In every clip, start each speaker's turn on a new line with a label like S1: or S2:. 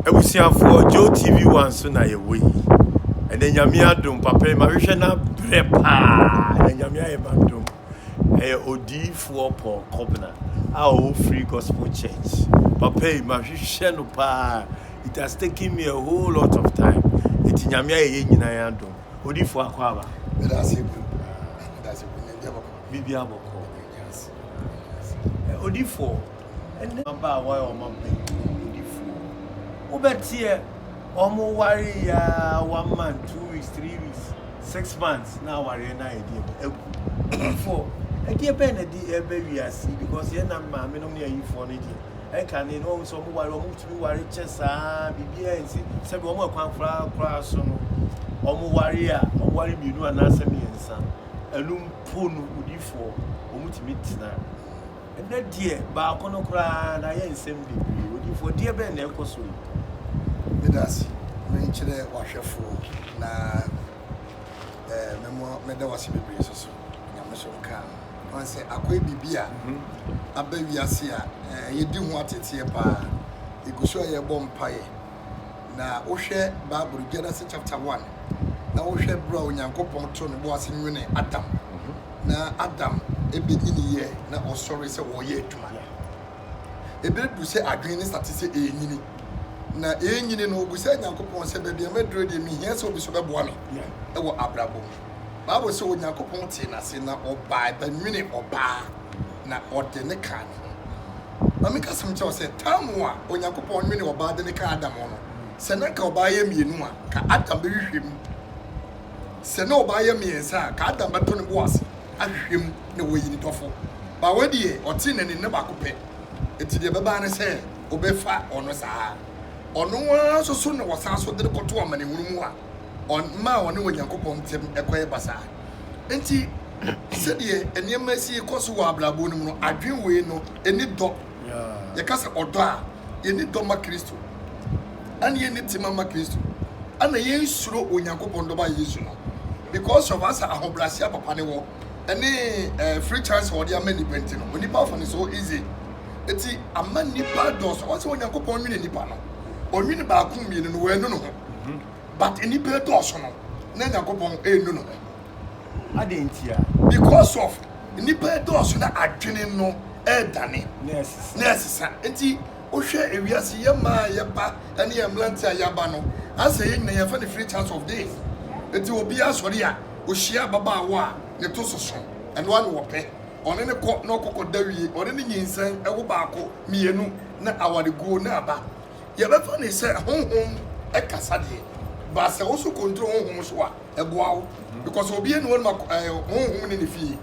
S1: abusuafoɔ joe tv one so na yɛwɔ yi ɛnɛ nyame adom papa yi mahwehwɛ no abrɛ paa na nyame ayɛ madom Ɛyɛ odiyifoɔ Paul Kobna a ɔwɔ Free Gospel Church. Papa yi, mahwehwɛ no paa. It has taken me a whole lot of time. Eti Nyame ayɛ yɛn nyinaa adom. Odiyifoɔ akɔ aba. Meda ase bio.
S2: Meda ase bio. Nyame abɔkɔ.
S1: Bibi abɔkɔ. Odiyifoɔ. ne mmabaawa a wɔabɛn awudifoɔ. Wobɛteɛ wɔn wareeɛ ara one month, two weeks, three weeks, six months na awareɛ no ayɛ deɛ bɛ agu. Ayifoɔ, ɛdeɛ bɛn na ɛde ɛreba wiase yi because yɛn nam maame nom ne ayifoɔ no deɛ ɛkane no wɔn sɛ wɔn ware wɔn tumi ware kyɛ saa biribiara nsi sɛbi wɔn ɛkwan koraa koraa so no wɔn ware a wɔn ware mmienu anaasɛ mmiɛnsa ɛnum po no wudifoɔ wɔn tumi tena Ɛnnɛ deɛ baako no koraa na ayɛ nsɛm bebree. Odiyifo, ɛdeɛ bɛn na ɛkɔ so yi? Meda
S2: ase, merekyerɛ w'ahwɛfo na eh, memo, meda w'ase bebree nso so. Nyame so nka ho. Wɔn sɛ akɔyɛ biribi a aba wiase a eh, yɛdi ho ateteɛ paa. Yɛgu so a yɛbɔ mpaeɛ. Na wohwɛ Bible Genesis chapter one na wohwɛ berɛ a Onyankopɔn too ne bo ase nwene Adam na Adam ɛbɛnyini yɛ na ɔsɔre sɛ wɔyɛ adwuma no ɛbɛduru sɛ adwene ne sate sɛ ɛrenyini na ɛrenyini no ɔbu sɛ Nyankopɔn sɛ baabi a maduro deɛ mehia sɛ obi so bɛboa me ɛwɔ abrabɔ mu. Bible sɛ Onyankopɔn tee n'ase na ɔbae bɛnwene ɔbaa na ɔde ne kaa ne ho. Ma menka asɛm kyerɛ wo sɛ tam a Onyankopɔn nwene ɔbaa de ne kaa Adam ho no, sɛ na nka ɔbaa yɛ mmienu a, ka Adam bɛhwehwɛ mu. Sɛ na ɔbaa yɛ mmiɛnsa a, ka Adam bɛtɔ ne bo ase ahwehwɛ mu na wayi ne dɔfo. Ba wei deɛ, ɔtee ne nne baako pɛ, enti deɛ ɛbɛbaa ne sɛ ɔbɛfa ɔno saa ara. Ɔno ara nso so na ɔsan so de no kɔto amanehunu mu a, ɔmaa ɔne Onyankopɔn ntam kɔyɛ basaa. Enti, sɛdeɛ nneɛma si rekɔ so wɔ abrabɔ no mu no, adwene wei no, ɛni dɔ. Yɛka sɛ ɔdɔ a, yɛni dɔ ma Kristo, ɛna yɛni tema ma Kristo, ɛna yɛnsuro Onyankopɔn dɔba Yesu no because of asa ahobrɛaseɛ papa ne wɔ ɛne eh, free chance a ɔde ama nnipa nti no, onipa afa ne so easy. Eti ama nnipa dɔɔso. Ɔsɛ Onyankopɔn nwene nnipa no, ɔnwene baako mmienu no, wɔanu no ho. but nnipa ɛdɔɔso no na Nyankopɔn ɛnu no ho. Adɛn
S1: ntia? Because
S2: of nnipa ɛdɔɔso na adwene no ɛredane na ɛresesa. Nti wohwɛ ewiase yɛ mmaa a yɛba ɛne yɛ mmeranteɛ a yɛaba no asɛ yɛn nyinaa yɛfɛ no free chance of this. Nti obiara sɔre a ohyia ababaawa a ne to soso ɛno ara na ɔpɛ ɔne no kɔ na ɔkɔ kɔda wie ɔne no nyinsɛn ɛwo baako mmienu na awareguo no aba. Yɛbɛfa no sɛ honhom kasa deɛ ba sɛ wo so control honhom so a ɛboa wo because obi ɛni wɔn ma honhom ne ne fie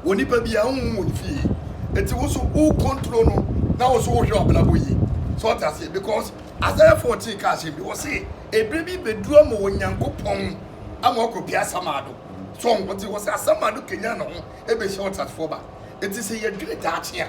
S2: wɔ nipa bi a honhom wɔ ne fie eti wo so wo control no na wo so wohwɛ ɔbrabɔ yie so ɔte aseɛ because Isaiah 14 ka ahyɛm bi wɔ se ebire bi bɛduru ama wɔ Nyankopɔn ama ɔkɔ pia asamaado so ɔte wɔ sɛ asamaado kenya ne ho ɛbɛhyɛ ɔtatefoɔ ba eti sɛ yɛdwene daakye a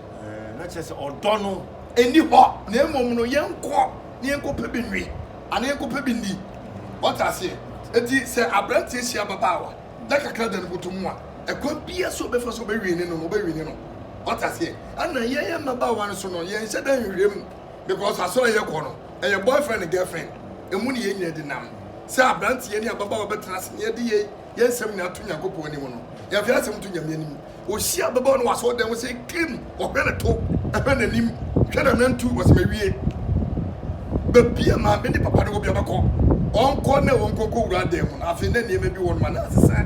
S2: Ɛɛ, na kyerɛ sɛ
S1: ɔdɔ no nni hɔ,
S2: na mmom no yɛnkɔ na yɛnkɔpɛ bi nwe anaa yɛnkɔpɛ bi nni. Wate aseɛ? Enti sɛ aberanteɛ hyia ababaawa da kakra da no bɔtɔ mu a, ɛkwan biara so ɔbɛfa so ɔbɛwe ne no no, ɔbɛwe ne no. Wate aseɛ? Ɛna yɛn mmabaawa no so no, yɛnhyɛ da nhwehwɛ mu, because asɔre a yɛkɔ no, ɛyɛ boyfriend and girlfriend, emu na yɛn nyinaa di nam. Sɛ aberanteɛ ne ababaawa bɛtena ase na yɛde yɛn yɛn nsɛm nyinaa to Nyankopɔn anim no, yɛmfa yɛn asɛm nto Nyame anim, Ohyia bɛbɔ no wɔ asɔɔdan mu sɛ klim ɔhwɛ no to hwɛ nanim hwɛ nanantu wɔsɛ mawie babia maame ne papa no wɔ bia bɛkɔ ɔnkɔ na wɔnkɔ nkɔ wura adan mu no afei na nneɛma bi wɔ no ma na asesa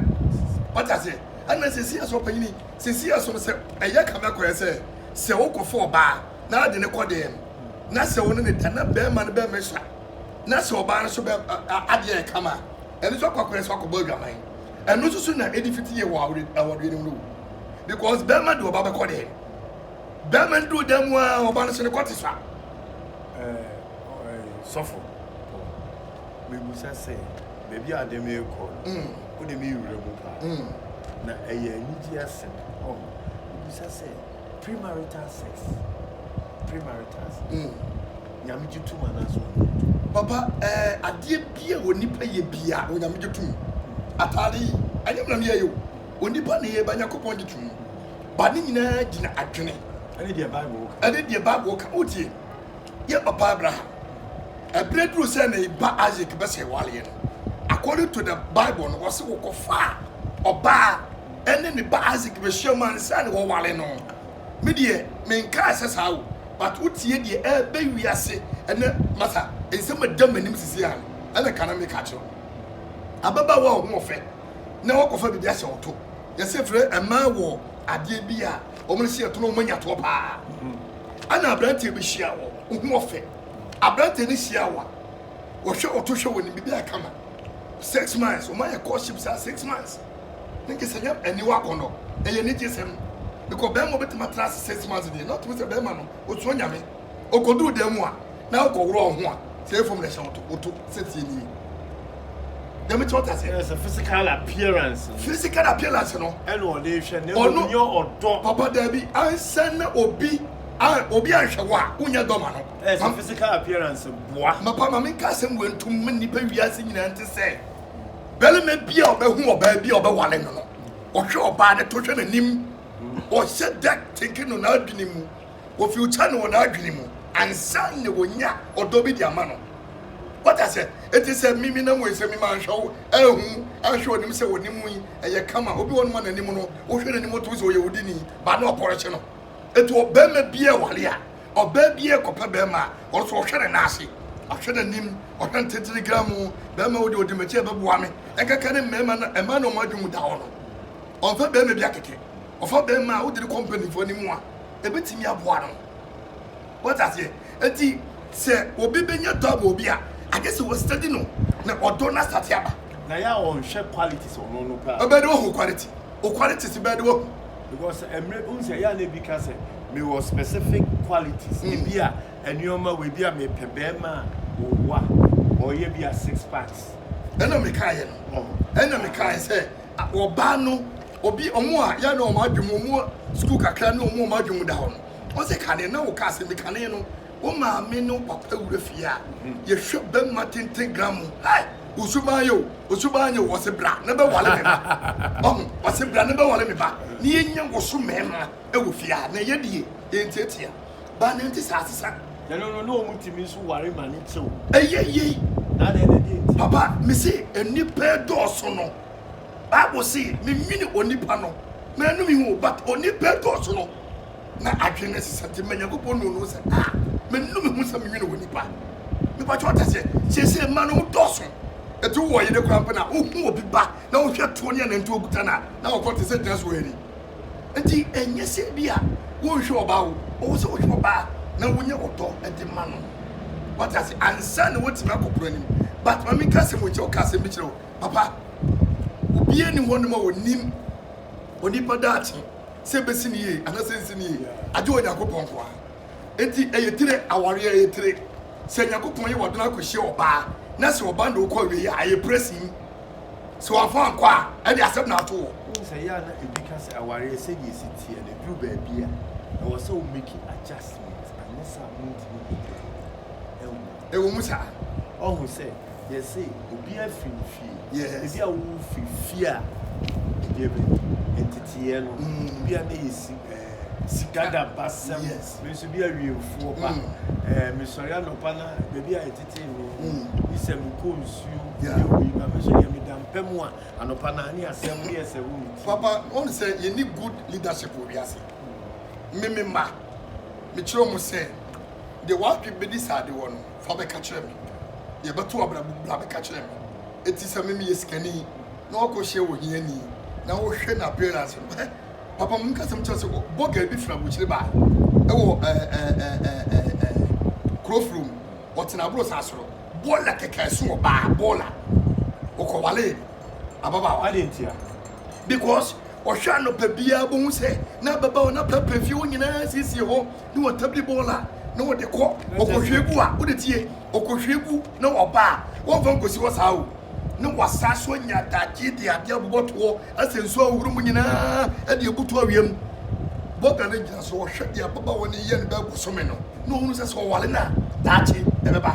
S2: wate aseɛ ɛna sɛsi ɛsɛ ɔpanyini sɛsi ɛsɛ sɛ ɛyɛ kame akɔyɛ sɛ sɛ wokɔfo ɔbaa na ade ne kɔ dan mu na sɛ wo ne ne da na bɛrima no bɛrima sua na sɛ ɔbaa no so bɛ adeɛ ɛkama ɛno so akɔ akɔyɛ sɛ akɔbɔ adwaman Ɛno nso so na edi fiti yɛ wɔ awɔde awɔde anim no o. Because bɛrima de ɔba bɛkɔ dɛn? Bɛrima no duru dan mu ara ɔba no so no kɔ te sa. Ɛɛ ɛɛ sɔfo pɔ.
S1: Mebusa sɛ baabi a ade me kɔ no. Mm. Wo de me wura mu paa. Mm. Na ɛyɛ anigye asɛm. Oh. Mebusa sɛ premarital sex. Premarital sex. Mm. Nyame gye tum anaasɛ ɔnye ntom? Papa
S2: eh adeɛ bi a onipa yɛ biaa Onyame gye tum. Ataade yi ɛnyɛ me na me yɛeɛ o, onipa na ɛyɛe but Nyakopɔn gye tum. But ne nyinaa gyina adwene. Ɛne deɛ Bible
S1: ka. Ɛne deɛ Bible ka.
S2: Wotie? Yɛn papa Abraham, ɛberɛ duruu sɛ ne ba Isaac bɛsɛe waleɛ no, according to the Bible no, ɔse wɔkɔfaa ɔbaa ɛne ne ba Isaac bɛhyiam ansa na wɔware no. me deɛ me nkaa sɛ saa o but wo tie deɛ ɛɛbɛ wiase ɛnɛ masa nsɛm a ɛda m'anim sisi a no ɛna ka na me ka kyerɛ wo ababaawa a ɔho ɔfɛ na wakɔ fa biribi ahyɛ ɔto yɛsɛ frɛ ɛmaa wɔ adeɛ bi a wɔn ne hyɛ ɛto na wɔn anya toɔ paa ɛna aberanteɛ bi hyia wɔ ɔho ɔfɛ aberanteɛ ne hyia wa wɔhwɛ ɔto hwɛ wɔ ne biribi akama six months wɔn ayɛ courtship saa six months. ne gyesɛ nyɛ aniwa akɔnnɔ, ɛyɛ anigyesɛm because bɛrima obetumi atra ase six months deɛ na ɔtumi sɛ bɛrima no osuro Nyame, okoduru dan mu a na okɔworɔ wo ho a sɛ ɛyɛ fam na ɛhyɛ woto woto sɛ tie nie dɛm ti ɔta sɛ ɛsɛ physical
S1: appearance no physical appearance no
S2: ɛna ɔde hwɛ
S1: ne ɔno nyɛ ɔdɔ papa daabi
S2: ansa na obi a obi anhwɛ wo a wonyɛ dɔ ma no ɛsɛ physical
S1: appearance boa mapa ma menka asɛm
S2: wɔ ntom ma nnipa wiase nyinaa nte sɛ barima bi a ɔbɛhu ɔbaa bi a ɔbɛwale no no ɔhwɛ ɔbaa no to hwɛ n'anim ɔhyɛ da teke no n'adwene mu ofi ɔkyɛ no wɔ n'adwene mu ansa na wɔnya ɔdɔ bi de ama no wata sɛ ɛti sɛ mimi nam wei sɛ mima anhwɛ wo ahu ahwɛ ɔnim sɛ wɔnim yi ɛyɛ kama obi wɔ no ma n'anim no wohwɛ n'anim to sɛ ɔyɛ wodini ba na ɔpɔrɔkye no ɛti ɔbɛma bi a wale a Ɔbaa bi rekɔpɛ barima a, ɔno nso ɔhwɛ ne nan ase, ɔhwɛ n'anim, ɔhwɛ ntentene gramoo. Barima wo deɛ ɔdi m'akyi a ɛbɛboa me. Ɛnkɛkɛ ne mmarima na mmaa na wɔn adwene mu da hɔ no. Ɔmfa barima bi akɛkɛ. Ɔfa barima a wode no kɔ mpanimfoɔ no mu a, ɛbɛtumi aboa no. Woate aseɛ? Enti sɛ obi bɛnya dɔ abɔ obi a, agye sɛ wɔstudy no na ɔdɔ no asate aba. Na yɛ a ɔnhwɛ
S1: qualities ɔno no paa. Ɛbɛyɛ dɛ wahu wo quality.
S2: Wo qualities bɛyɛ dɛ wahu. Because ɛmmerɛ
S1: wohu sɛ ɛyɛ a na ebi ka sɛ mewɔ specific qualities hmm. ebi a nneɛma wɔ ebi a mepɛ bɛrima a ɔwa ɔyɛ bi a six packs. ɛna mekaeɛ
S2: no ɛna mekaeɛ sɛ ɔbaa no obi ɔmo a yɛ na ɔmo adwom ɔmo sukuu kakra ne ɔmo ɔmo adwom da hɔ no ɔsɛ kane na wokaa sɛ mekane no wo maame ne wo papa wura fie a yɛhwɛ bɛma tenten gra mu hai osu baa yɛ o osu baa nyɛ o wɔse bra ne bɛwale me ba ɔho wɔse bra ne bɛwale me ba ne yɛnya wo so mmarima wɔ fie a na ɛyɛ die yɛntiatia ba ne nte saa sesa na no no ne ɔmu
S1: tumi nso ware ma ne kyɛw ɛyɛ yei papa mese
S2: nnipa dɔɔso no bible se memene onipa no mɛnome ho but onipa dɔɔso no na adwene no sesa nti, mma Nyankopɔn nuu no ho sɛ, A! Menu me ho sɛ menwene wɔ nnipa. Mepa kyɛw, wote aseɛ? Seesei mma no dɔɔso. Enti wowɔ ɔyere koraa mpo no a, wohu obi ba na wohwɛ toɔ ne anantwie a ɔkuta no a, na ɔkɔ te sɛ gyina so wɛre. Enti ɛnyɛ sɛ ebia wonhwɛ ɔbaa o, ɔwɔ sɛ wohwɛ ɔbaa na wonya ɔdɔ de ma no. Woate aseɛ? Ansa na woatumi akɔ pono anim. But ma menka asɛm wei nkyerɛ wo, ka asɛm bi kyerɛ wo, papa. Obiara nni hɔnom a ɔnim onipa daakye. sɛ ebesi no yie anaasɛ ensi no yie, agye Onyankopɔn nko ara. Enti ɛyɛ tire, aware a ɛyɛ tire. Sɛ Nyankopɔn yɛ w'adwene akɔhyia ɔbaa na sɛ ɔbaa na wokɔ awiei a, ɛyɛ pressing. Sɛ wamfa ankɔ a, ɛnde asɛm na ato hɔ. Wohu sɛ ɛyɛ a na ebi
S1: ka sɛ awareɛ sɛdeɛ ɛsi teɛ no, ɛduru baabi a, ɛwɔ sɛ wo make adjustment, anyɛ saa a montumi nkɔ awiei. Ɛnwo.
S2: Ɛwɔ mu saa. Ɔho sɛ
S1: yɛse obiara firi ne fie. Yes. Ebi a wo firi fie a ɛdeɛ bɛ nteteɛ no. Mm. Ebi a na yɛ si ɛɛ. Sika da basɛm. Yes. Me nso bi awiemfoɔ ba. Mm. Ɛɛ eh, mesɔre anɔpa na baabi a yɛtetee me. Mm. Bi sɛ mekɔ nsuo. Yeah. Yɛ wei ba me nso deɛ meda mpa mu a anɔpa na ne asɛm ne yɛ sɛ wo ne ti. Papa, wɔn sɛ
S2: yɛni good leadership wɔ wiase. Mm. Me me mma, mekyerɛ wɔn sɛ. Deɛ w'adwene bɛdi saa de wɔ no, fa bɛka kyerɛ me. Deɛ ɛbɛto w'abrabɔ mu, bra bɛka kyerɛ me. Enti sɛ me meyɛ sikani na woakɔhyia ohiani na wohwɛ n'appearance no, hɛ, papa mo nkasa mu kyerɛ sɛ bɔga bi firi abokyire bae ɛwɔ ɛɛ ɛɛ ɛɛ ɛɛ kurofuro mu, ɔtena aboro saa soro, bɔɔla kɛkɛ ɛso ɔbaa, bɔɔla, ɔkɔwalee ababaawa. Adɛn ntia?
S1: Because
S2: ɔhwɛ anɔpa biara bɛhu sɛ n'ababaawa no apɛpɛ fie hɔ nyinaa asiesie hɔ. ne wɔtam de bɔɔl a na wɔde kɔ ɔkɔhwie gu a wode tie ɔkɔhwie gu na wɔba a wɔmfa nkɔsi hɔ saa o na wɔasa so anya adagye de adeɛ abobɔ toɔ asɛ nsuo a wɔhoro mu nyinaa de abutu awia mu bɔga no gyina so wɔhwɛ deɛ ababaawa no yɛ no bɛɛ bosome no na ɔhunu sɛ sɛ ɔwale no a daakye ɛbɛba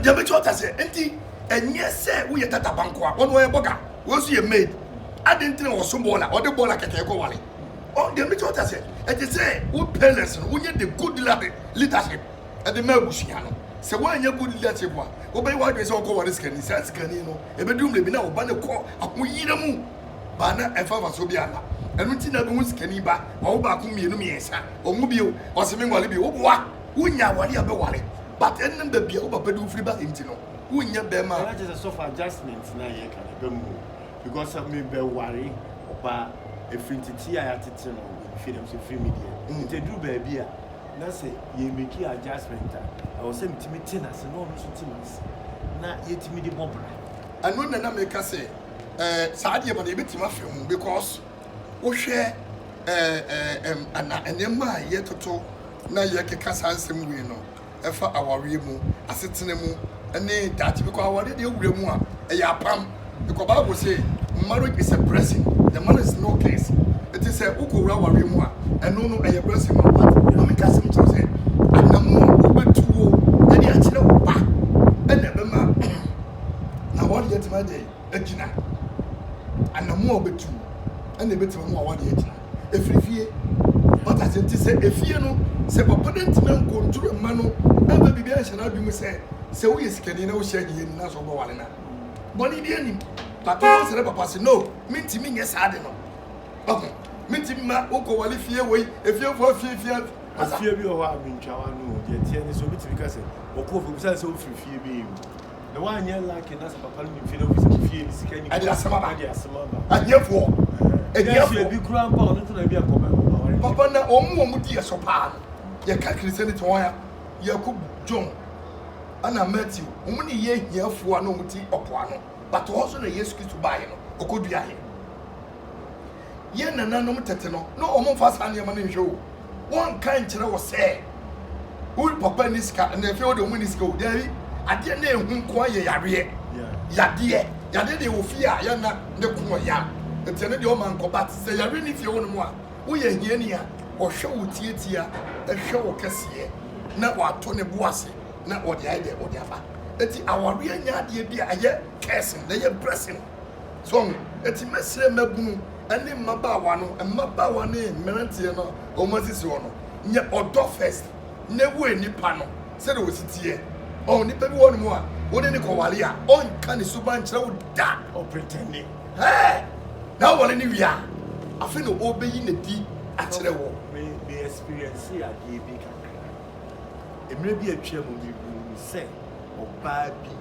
S1: deɛ bɛkyɛ ɔta sɛ nti
S2: ɛnyɛ sɛ woyɛ tatabanko a wɔne wɔyɛ bɔga wɔn nso yɛ maid adɛn nti na wɔso bɔɔla ɔde bɔɔla kɛkɛ kɔ wale Ɔ deɛ mɛtumi ata sɛ ɛte sɛ wo parents no wonyɛ the good leadership ɛde ma abusua no sɛ woanyɛ good leadership a wobɛyɛ w'adwene sɛ wokɔ ware sikani saa sikani no ɛbɛduru mmerɛ bi na wo ba no kɔ ahoyira mu baa na ɛfa mfasoɔ bi ama ɛno nti na bɛhu sikani ba wawo baako mmienu mmiɛnsa ɔnwo bio ɔse menwale bio woboa wonya awale a bɛwale but ɛnam baabi a wo papa de wofiri ba nti no wonyɛ bɛrima a. Ɛna kyerɛ sɛ sɔfo
S1: adjustment na yɛka no ɛbɛ mu. Because sɛ me bɛ ware ɔbaa ɛfiri ntetee a y'atete no wɔ me fie dɛm sɛ ɛfiri me deɛ nti ɛduru baabi a na sɛ yɛ meki adjustment a ɛwɔ sɛ me tumi te n'ase na ɔno nso te m'ase na yɛ tumi de bɔ bra. Ɛno na na
S2: me ka sɛ eh saa deɛ ma no yɛ bɛ tumi afɛ ho because wo hwɛ eh eh ɛm ɛna ɛneɛma a yɛ toto na yɛ keka saa nsɛm wei no. ɛfa awareɛ mu, asetena mu, ne daakye. Because awareɛ deɛ wura mu a, ɛyɛ apam. Because Bible say marriage is a blessing, the man is no curse. Ɛti sɛ wokɔ wura awareɛ mu a, ɛno no ɛyɛ blessing ma wo. But mame ka sɛm kyerɛ sɛ anamu a wobɛtuo ɛde akyerɛ wo ba ɛna ɛbɛma na wɔde atumi adɛn. agyina, anammɔn a wobetu na ebetumi ama w'aware agyina. Efiri fie. Wate ase? Nti sɛ efie no, sɛ papa no antumi ankontro mma no amfa biribi anhyɛ n'adwene mu sɛ, sɛ woyɛ sikani na wohyɛ ahiani na sɛ wobɛware no a, bɔne biara nnim. Papa no nsrɛ papa se, No, mintumi nyɛ saa ade no. Wahu? Mintumi mma wokɔware fie wei, efiefo afiafia. Asa. Efie bi wɔ hɔ
S1: a mintwa w'ano o. Deɛ ɛteɛ ne sɛ, obetumi ka sɛ, Ɔkɔɔ fie, obisae sɛ, Wofiri fie bɛn mu? ɛde asɛm aba ahiafoɔ ahiafoɔ papa na ɔmu ɔmu
S2: di yɛ so paa no yɛka kristian ne te wɔn a yɛko john ana matthew ɔmu ne yɛ ahiafoɔ a na ɔmu te ɔpoa no but ɔhɔ so na yesu kristo baayɛ no ɔkɔ dua yɛ yɛn nananom tete no, na wɔmfa saa nneɛma no nhwɛ o. Wɔnka nkyerɛ wo sɛ wo papa nni sika, na afei wo deɛ wɔnni sika o. Daabi. Adeɛ na ɛhu nko ara yɛ yareɛ. Yadeɛ. Yadeɛ deɛ ɛwɔ fie a, yɛnna ne ko ɔya. Nti ɛno deɛ ɔma nkɔ. But sɛ yareɛ nni fie hɔ nom a, woyɛ ahiani a, ɔhwɛ wo tiatia, ɛhwɛ wo kɛseɛ, na wato ne bo ase, na ɔde ayɛ deɛ ɔde afa. Nti awareɛ nyɛ adeɛ bi a ɛyɛ cursing, na ɛyɛ blessing. So ɔho? Enti mɛsrɛ mmabunu ne mmabaawa no, mmabaawa ne mmeranteɛ no a wɔn asisi hɔ no, nyɛ ɔdɔ first na wue nipa no sɛdeɛ ɔsi teɛ. Ɔho? Nipa bi wɔ hɔ nom a wo ne no kɔware a, ɔnka ne suban nkyerɛ wo da. Ɔpretɛnde.
S1: Hɛɛ!
S2: Na aware no wie a, afei na ɔrebɛyi n'adi akyerɛ wo. Me, me ɛspiriɛnsee
S1: adeɛ bi kakra. Mmerɛ bi atwam no, mehuu sɛ ɔbaa bi.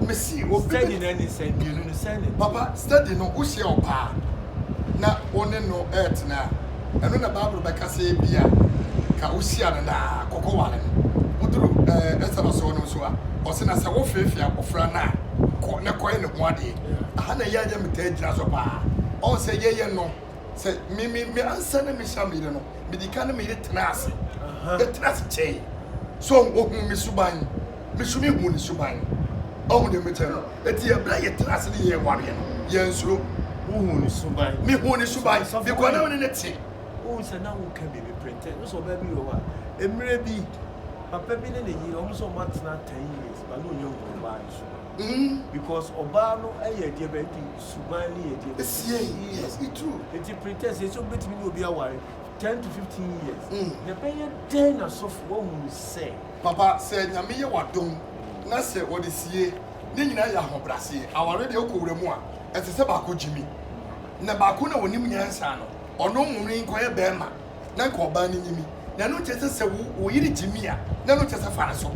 S2: Mese obi bi. Steady no ɛne sɛn? Mmienu
S1: no sɛn na ɛteɛ? Papa, steady no,
S2: wohyia ɔbaa na wo ne no retena a, ɛno na Bible bɛka sɛ ebia ka wohyia no daa, kɔkɔware no. Woduru Esther asɔr no nso a, ɔse na sɛ wofeefee abofra no a, kɔ na kɔyɛ ne ho adeɛ. Aha na yɛn yɛ metaa gyina so paa. Ɔn sɛ yɛyɛ no, sɛ me me me ansa na mehyia me yere no, medi kan ne me yere tena ase. Yɛtena ase kyɛe. So wohu me suban? me so me hu ne suban ɔhu deɛ mekyɛ no eti ɛberɛ a yɛtena ase ne yɛn wareɛ no yɛn suro wohu ne suban
S1: me hu ne suban
S2: because na me ne ne te wohu sɛ na wo
S1: ka bi me pretend no sɛ ɔbaa bi wɔ hɔ a mmerɛ bi papa bi ne ne yere ɔmo sɛ ɔmo atena ten years ba na ɔnya hu ɔbaa ne suban mm-hmm. because ɔbaa no ɛyɛ ɛdeɛ bɛ nti suban ne yɛ ɛdeɛ bɛ esie yes it
S2: true eti pretend sɛ esi ɔmo
S1: betumi ne obi aware ten to fifteen years mm. na ɛbɛyɛ dɛn na sɔfo wɔhu sɛ Papa sɛ nyame
S2: yɛ wadom na sɛ wɔde sie ne nyinaa yɛ ahobrɛase aware deɛ wokɔ wura mu a ɛte sɛ baako gyimi na baako na ɔnim nyansa no ɔno nwomene nkɔyɛ bɛɛma na nka ɔbaa no nyimi na ɛno nkyɛ sɛ sɛ wo wo yere gyimi a na ɛno nkyɛ sɛ fa no so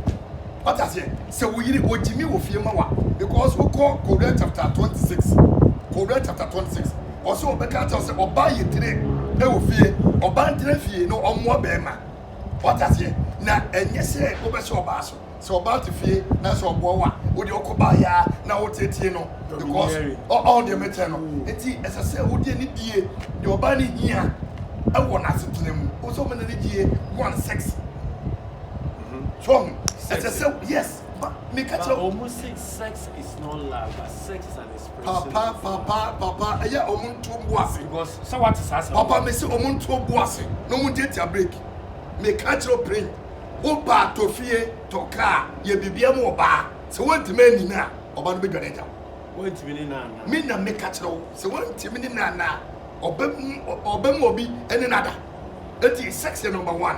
S2: wata aseɛ sɛ wo yere ɔgyimi wɔ fie ma wa because wokɔ kowura chapter 26 kowura chapter 26 ɔsɛ ɔbɛka kyɛw sɛ ɔbaa yɛ tire ɛwɔ fie ɔbaa ntena fie na ɔmmoa bɛɛma Wate aseɛ? Na ɛnyɛ sɛ wobɛhyɛ ɔbaa so. Sɛ ɔbaa te fie na sɛ ɔboa wo a, wo deɛ wokɔ baeɛ ara na woteetee no because ɔ, ɔho deɛ mekyɛ no. Enti ɛsɛ sɛ wode ani bue deɛ ɔbaa no hia wɔ n'asetena mu. Wo sɛ woma n'ani gyie one sex. So ɔho? Ɛsɛ sɛ, yes, ba, meka kyerɛ wo. But ɔmo se sex
S1: is not love but sex is an Papa papa papa
S2: ɛyɛ a ɔmo nto bo ase. Because sɛ wate saa
S1: asɛm. Papa mi se ɔmo nto
S2: bo ase na ɔmo ntiatia break. Mi ka kyerɛ prin wo ba tɔ fie tɔ kaa yɛ bibia ma ɔba sɛ wantumi ani no a ɔba no bɛ dwane agya wo. Wantumi ne na
S1: ana. Mi na mi ka kyerɛ wo
S2: sɛ wantumi ne na ana a ɔbɛ ɔbɛ ma obi ɛne no ada. Eti sex yɛ number one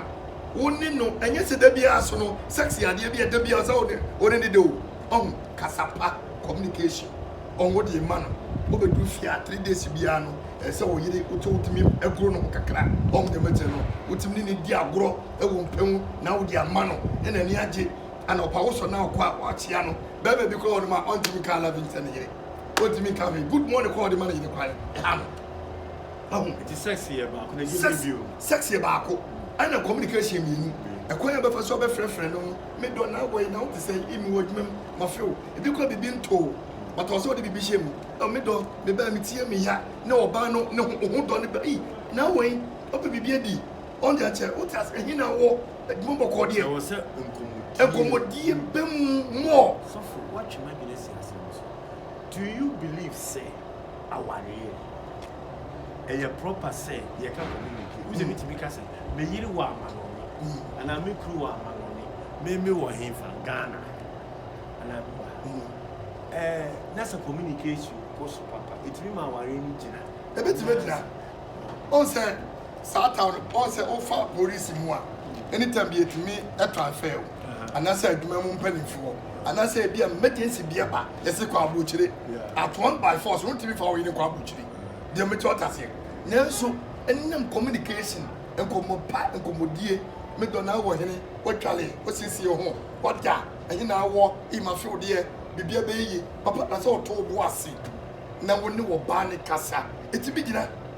S2: wo ne no ɛnyɛ sɛ da biara so no sex yɛ adeɛ bi a da biara sɛ wo ne ɔne no da o. Ɔho kasa pa communication ɔho wode yɛma no wobɛduru fie a three days biara no ɛyɛ sɛ wo yere wotɔ wotumi aguro no ho kakra ɔho deɛ mɛkyɛ no wotumi ne ne di agorɔ ɛwɔ mpɛ mu na wode ama no ɛna ani agye ana ɔpa wo sɔ na ɔkɔ a wakyea no bɛɛma bi kora ɔnom a ɔntumi ka loving sɛ ne yere ɔntumi ka hwee good morning kora ɔde ma ne yere kwan ɛha no
S1: ɔho nti sex yɛ baako na ɛgye bio sex yɛ baako
S2: ɛna communication mmienu ɛkwan a bɛfa so ɔbɛfrɛfrɛ no me dɔ na wɔ yi na wo te sɛ yi me wɔ adwuma mu ma few ebi kura bibi ntoo but ɔsɛ ɔde bibi hyɛ mu ɛwɔ me dɔ me bɛn me tie me ya ne ɔbaa no ne ho ho dɔ ne bɛ yi na wɔ yi ɔpɛ bibi adi ɔn de akyɛ wo te ase ɛhe na wɔ adwuma bɔkɔɔ deɛ ɛwɔ sɛ nkɔmɔdie
S1: nkɔmɔdie
S2: bɛ mu mɔ sɔfo watwe
S1: ma dwene si asɛm so do you believe sɛ aware yi ho. Ɛyɛ proper sɛ yɛka community. Wosɛ metumi ka sɛ me yere wɔ amanɔne anaa me kuru wɔ amanɔne, me me wɔ henfa Ghana anaa me wɔ ha. Ɛɛ na sɛ communication kɔ so papa, etumi ma aware no gyina. Ebetumi agyina.
S2: Wɔn sɛ saa town, wɔn sɛ wofa polisi mu a, anytime bi etumi transfer wo. anaasɛ adwuma mu mpanimfoɔ anaasɛ ebi a emergency bi ɛba yɛsi kɔ aburokyire at one by force wɔn ti bi fa wɔn yini kɔ aburokyire deɛ mo ti ɔta seɛ nanso ɛnam communication nkɔmɔ pa nkɔmɔdie me dɔ na wɔ hene wɔtwale wɔsiesie ho wɔda ɛhe na awɔ ima few deɛ biribi abɛyɛ yie papa na sɛ ɔtɔ ɔbo ase na wɔn ne wɔ baa ne kasa eti bi gyina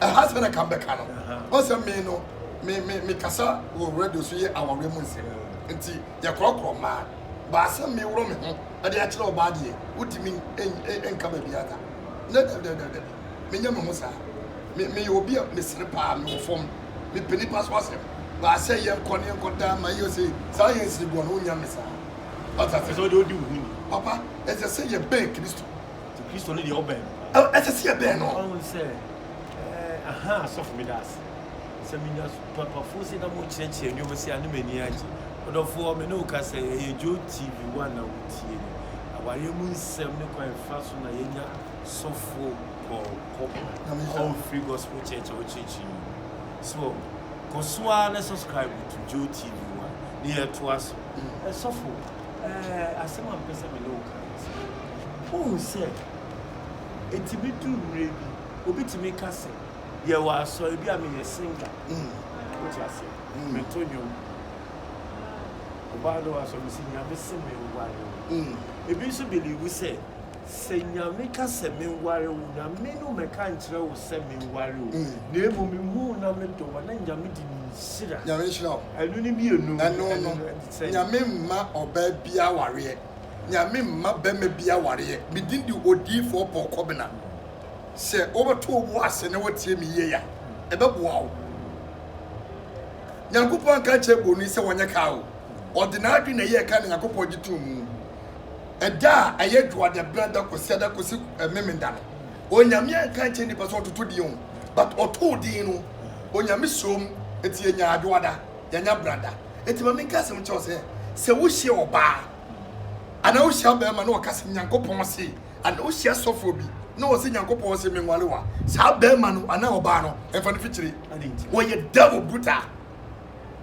S1: ɛha
S2: sɛ na ka mbɛka no ɔsɛ me no me me me kasa wɔ radio so yɛ awareɛ mu nsɛm nti yɛkorɔkorɔ mmaa baasɛ me worɔ me ho ɛde akyerɛ ɔbaa deɛ wotumi nka baabi ada ne dɛbdɛbdɛbi menyɛ me ho saa me meyɛ obi a mesere paa mewɔ fam mepɛ nipa so asɛm baasɛ yɛnkɔ ne yɛnkɔ daa ma yɛ sɛ saa yɛ nsiri boɔ no wonya me saa ɔtase
S1: papa ɛsɛ
S2: sɛ yɛbɛn kristo Nti Kristo no deɛ
S1: ɔbɛn. Ɛ ɛsɛ sɛ yɛbɛn
S2: no. Ɔhu sɛ
S1: ɛɛ aha asɔfo meda ase sɛ menya papafoɔ sɛ na mokyerɛkyerɛ nneɛma sɛ ano m'ani agye. Ɔdɔfoɔ me ne wo kasa yi ɛyɛ Joe TV one na wotie no. Awareɛ mu nsɛm ne kwan fa so na yɛnya sɔfo kɔkɔ All Free Gospel Church a wokyerɛkyerɛ yi. So kɔ so ara na subscribe to Joe TV one na yɛtoa so. Ɛsɔfo. Ɛɛ, asɛm a mepɛ sɛ me ne wo ka ne sɛ, wohu sɛ ɛtumi duru mmerɛ bi, obi tumi ka sɛ, yɛwɔ asɔre bi a meyɛ singer. Mm. Wote aseɛ? Mm. Meto nnwom. Ɔbaa no wɔ asɔre mu sɛ, Nyame se menware wo. Mm. Ebi nso believe sɛ, sɛ Nyame ka sɛ menware wo, Nyame no mɛka nkyerɛ wo sɛ menware wo. Mm. Na mmom mehu na medɔ wo, na Nyame de ne nhyira. Nyame nhyira wo. Ɛno
S2: ne mmienu.
S1: Ɛno no.
S2: Nyame mma ɔbaa bia awareɛ. Nyame mma bɛma bi awareɛ. Me din de Odiyifoɔ Paul Kɔbena. Sɛ wobɛto wo bo ase na wotie me yie a, ɛbɛboa wo. Nyankopɔn anka ankyerɛ Boni sɛ wɔnyɛ kaa o. Ɔde n'adwene na ɛyɛɛ kaa na Nyankopɔn gye too mu. Ɛda a ɛyɛ Dwoadɛberɛ da kɔsi ada kɔsi Memenda no, Onyame anka ankyerɛ nnipa sɛ wɔntoto din o, but ɔtoo din no, Onyame suom, nti yɛnyaa Dwoada, yɛanya Brada. Enti ma menka asɛm nkyerɛ wo sɛ, sɛ wohyia ɔbaa anaa wohyia ɔbarima na ɔka sɛ Nyankopɔn se, anaa wohyia sɔfoɔ bi na ɔse Nyankopɔn se menwale wo a, saa barima no anaa ɔbaa no, ɛmfa no mfikyire. Ɔyɛ Devil botaa.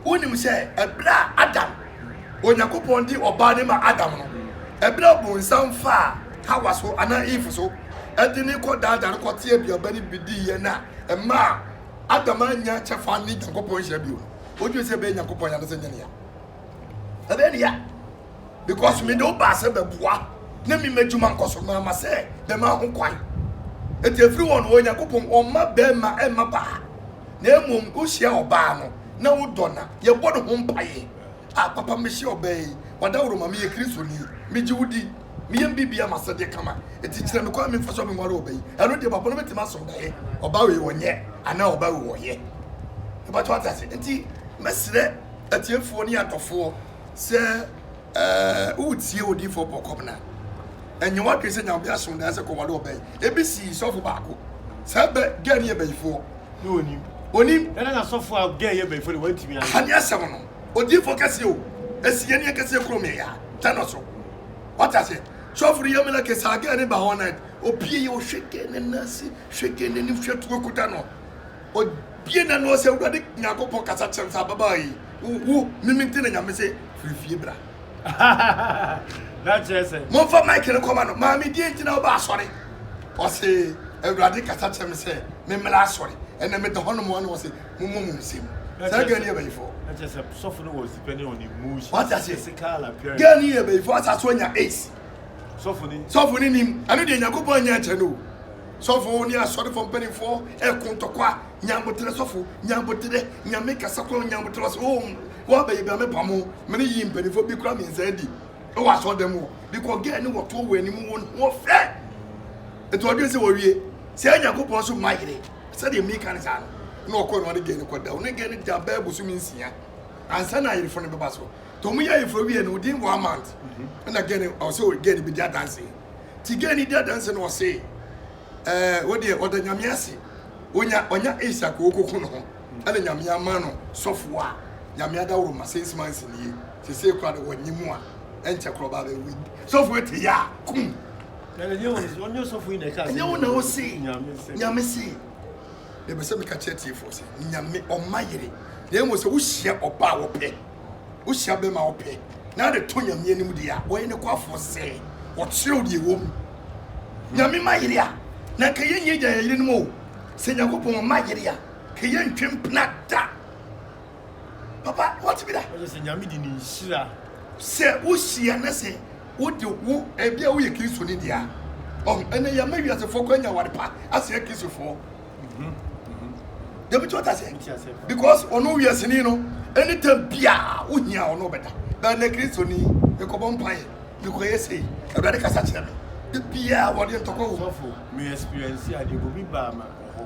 S2: Wonim sɛ ɛberɛ a Adam, Onyankopɔn de ɔbaa no maa Adam no, ɛberɛ a ɔbonsam faa Hawa so anaa Eve so de no kɔdaadaa no kɔtee aduaba no bi diiɛ no a ɛmaa Adam annya kyɛfa ne Nyankopɔn nhyira bio no, wodwen sɛ ɛbɛyɛ nyankopɔn ya no sɛ nyɛ nea ɛbɛyɛ ne ya because mede wo baa sɛ bɛboa na mema adwuma nkɔ so maama sɛ bɛma ho kwan ɛti ɛfiri wɔn wɔ nyankopɔn ɔma bɛma ɛma baa na mmom wohyia ɔbaa no na wodɔ na yɛbɔ ne ho mpaeɛ a papa mehyɛ ɔbaa yi wadaworoma meyɛ kristoni megye wo di me yam biribi ama sɛdeɛ kama, enti kyerɛ me kwan a memfa so a menware ɔba yi, ɛno deɛ bɔbɔ no bɛtumi asɔ ɔba yɛ, ɔba wei ɔnyɛ anaa ɔba wei ɔyɛ. Mpakyɛ wate ase? Enti mɛsrɛ atiefoɔ ne adɔfoɔ sɛ eh, wotie odiyifoɔ Paul Kɔbena, ɛnyɛ w'adwene sɛ nya ɔbea aso daa sɛ kɔware ɔba yi. Ebi sii sɔfo baako, saa bɛ, gɛɛ no yɛ bayifoɔ. Na ɔnim.
S1: Ɔnim. Ɛna na sɔfo a gɛɛ yɛ bayifoɔ de wantumi anyɛ. Aha ne asɛm no,
S2: odiyifoɔ kɛseɛ o, ɛsi yɛn ne yɛn kɛseɛ kurom yɛ yaa, tɛ no so, Wate aseɛ? Sɔfo no yɛ meleke saa gɛɛ ne ba hɔ na obie yɛ ɔhwɛ gɛɛ ne nan ase hwɛ gɛɛ n'anim hwɛ tuo kuta no obie n'ano ɔsɛ awurade nyankopɔn kasa kyerɛ sɛ ababaa yi wo wo mimi nti na nyame se firi fie bra
S1: momfa mike no kɔma
S2: no maame die nti na woba asɔre ɔse awurade kasa kyerɛ me sɛ memmela asɔre ɛnɛ meda hɔ nom ɔne ɔse mommɔ mu nsɛm saa gani yɛ bɛyifoɔ
S1: wate aseɛ
S2: gani
S1: yɛ bɛyifoɔ asa so
S2: anya ace sɔfo
S1: ne nim ɛno deɛ nyankopɔn anya
S2: nkyɛ no sɔfo ne asɔrefoɔ mpanimfoɔ ɛko ntɔkwa nyanboterɛ sɔfo nyanboterɛ nyame kasa kora nyanboterɛ ɔsɛ o wɔabɛyɛ bia mepamo mene yi mpanimfoɔ bi kora mensa adi ɛwɔ asɔ dɛm hɔ because gɛ ne wɔtoɔ wɔ anim wɔn ho ɔfɛ ɛti ɔdwen sɛ wɔwie sɛ nyankopɔn so ma yere Sɛdeɛ mereka no saa no, na ɔkɔɔ na ɔne gɛɛ no kɔda. Ɔne gɛɛ no daa bɛyɛ bosome nsia ansa na ayerefo no bɛba so. Nti wɔyɛ ayerefo awie no, within one month, ɛna gɛɛ no, ɔsɛ gɛɛ no bɛdi adanse. Nti gɛɛ no di adanse no, ɔse, ɛɛ, wo deɛ, ɔda Nyame ase, ɔnya, ɔnya Isak a ɔkɔku ne ho, ɛna Nyame ama no sɔfoɔ a Nyame adaworoma, six months nie, seesei koraa deɛ wɔnye mu a, ɛnkyɛ koraa ɔbaa bɛwe. Sɔfoɔ te yɛ a, kum!
S1: Ɛnyɛ wo na wose
S2: Nyame se. Mepɛ sɛ meka kyerɛ tiefoɔ sɛ Nyame ɔma yere na mmom sɛ wohyia ɔba a wɔpɛ wohyia bɛma wɔpɛ na ade to Nyame anim deɛ a ɔyɛ ne kwafoɔ sɛ ɔkyerɛw deɛ ɛwɔ mu Nyame ma yere a na nka yɛnyɛ gya yɛ yere no mu o sɛ Nyankopɔn ɔma yere a ka yɛntwe mpena da papa wɔte bi da. ɔyɛ sɛ nyame de ne
S1: nhyira. sɛ
S2: wohyia na sɛ wode wo ebi a woyɛ kristoni deɛ a ɔho ɛnɛ yɛma wiasefoɔ kɔ anya aware pa asɛe kristofoɔ dɛbi kyɛwta sɛ because ɔno wiaseni no anytime biaa wohia ɔno ɔbɛda bɛnɛ kristoni mekɔbɔ mpaeɛ mekɔyɛ sei awurade kasa kyerɛ me da biaa wɔde ntɔkɔ wo sɔfo me experience
S1: adeɛ bobi baa ma ɔhɔ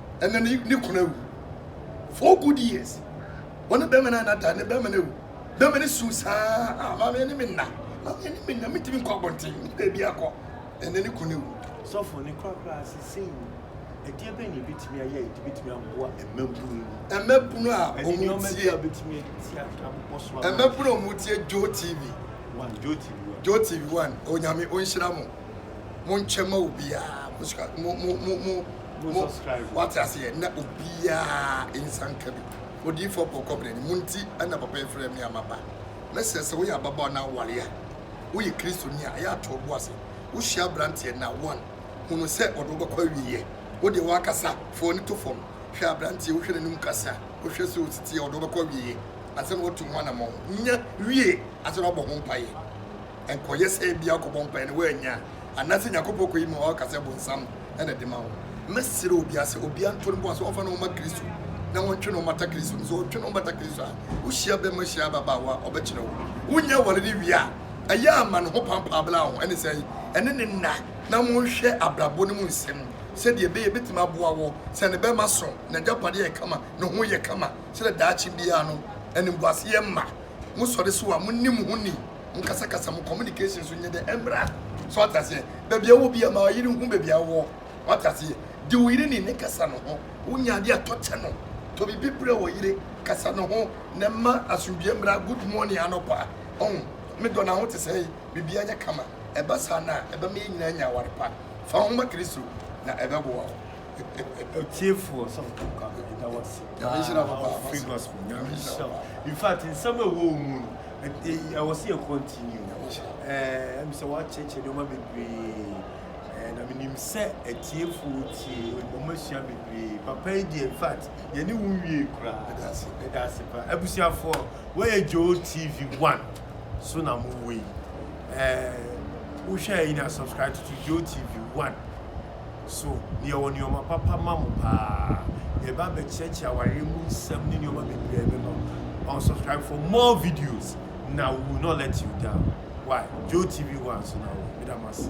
S2: ɛna ne ne kunu awu four good years wɔne bɛrima no a nada ne bɛrima no awu bɛrima no su saa a maame ne me nna maame ne me nna metumi nkɔ abɔnten ne baabi akɔ ɛna ne kunu awu sɔfo ne korakora
S1: ase sei ɛdeɛ bɛn na ɛbɛtumi ayɛ a ɛde bɛtumi aboa mmabunu yi mmabunu a ɛne wɔn nneɛma bi
S2: tie
S1: a bɛtumi atia abobɔ so ama mmabunu a wɔn tie
S2: joe tv one
S1: joe tv one
S2: joe tv one onyame onhyira mo mo nkyɛn ma obiara mo sika mo mo mo mo Mo,
S1: wate aseɛ, na
S2: obiara nsa nka bi. Odiyifoɔ Paul Kɔbena ni. Mo nti na papa yi frɛɛ me a maba. Mɛsrɛ sɛ woyɛ ababaawa na aware a, woyɛ Kristoni a, ɛyɛ a to wo bo ase. Wohyia aberanteɛ na one, hu no sɛ ɔde wo bɛkɔ awieɛ. Wo deɛ woakasa, fa w'ani to fam, hwɛ aberanteɛ, wohwɛ n'anim kasa, wohwɛ sɛ ɔsi teɛ, ɔde wo bɛkɔ awieɛ ansa na watu ho anammɔn. Nya wie ansa na woabɔ ho mpaeɛ. Nkɔyɛ sɛ ebia ɔkɔbɔ mpae na wannya a, anaasɛ Nyankopɔn kɔyi ma ɔka sɛ bonsam na ɛde ma wo. Mɛsrɛ obia sɛ obia nto ne bo ase ɔmfa ne ho ma Kristo na ɔntwe ne ho mmata Kristo no. Sɛ ɔtwe ne ho bata Kristo a, wo hyia bɛma hyia ababaawa a ɔbɛkyerɛ wo. Wonya aware no wie a, ɛyɛ a ma ne ho pampaa bla ho ɛne sɛ ɛne ne nna na monhwɛ abrabɔ no mu nsɛm sɛdeɛ ɛbɛyɛ ɛbɛtumi aboa wo sɛ ne bɛma so n'agyapadeɛ yɛ kama, ne ho yɛ kama sɛdeɛ daakye biara no animguaseɛ mma. Mosɔre so a, monni mo ho ni. Mo kasa kasa mo communication so nyɛ dɛ ɛmmra so wate aseɛ baabi ɛwɔ bia ma ɔyere nhu baabi ɛwɔ wate aseɛ di wo yere ni ne kasa no ho wo nya adeɛ atɔ kyɛ no tɔ biribi brɛ wɔ yere kasa no ho na ma asomdue mmra good morning anɔpa ɔn me dɔ na ho te sɛe biribi anyɛ kama ɛba saa na ɛba ma yɛ nyinaa nya aware pa fa ho ma kristo na ɛbɛboa wo ɔtiefoɔ
S1: sɛ ɔtɔkɔ abɛdeda wɔ se paa free gospel nyame nhyira wo in fact nsɛm ɛwɔ wo mu no ɛwɔ sɛ yɛ continue ɛɛ mi sɛ wakyerɛkyerɛ nneɛma bebree ɛɛ na menim sɛ atiefoɔ tie wɔn asua bebree papa yi deɛ in fact yɛne wo nwie koraa ɛda ase paa abusuafoɔ wɔyɛ Joe TV one so na mo wɔ yi ɛɛ wohwɛ yi na subscribe to Joe TV one. So deɛ ɔwɔ nneɛma papa ma mo paa? Yɛbɛ abɛkyerɛkyerɛ awareɛ mu nsɛm ne nneɛma bebree bɛma mo. Ɔn subscribe for more videos na we will not let you down. Why? Joe TV hɔ a nso na wɔ. Meda mo ase.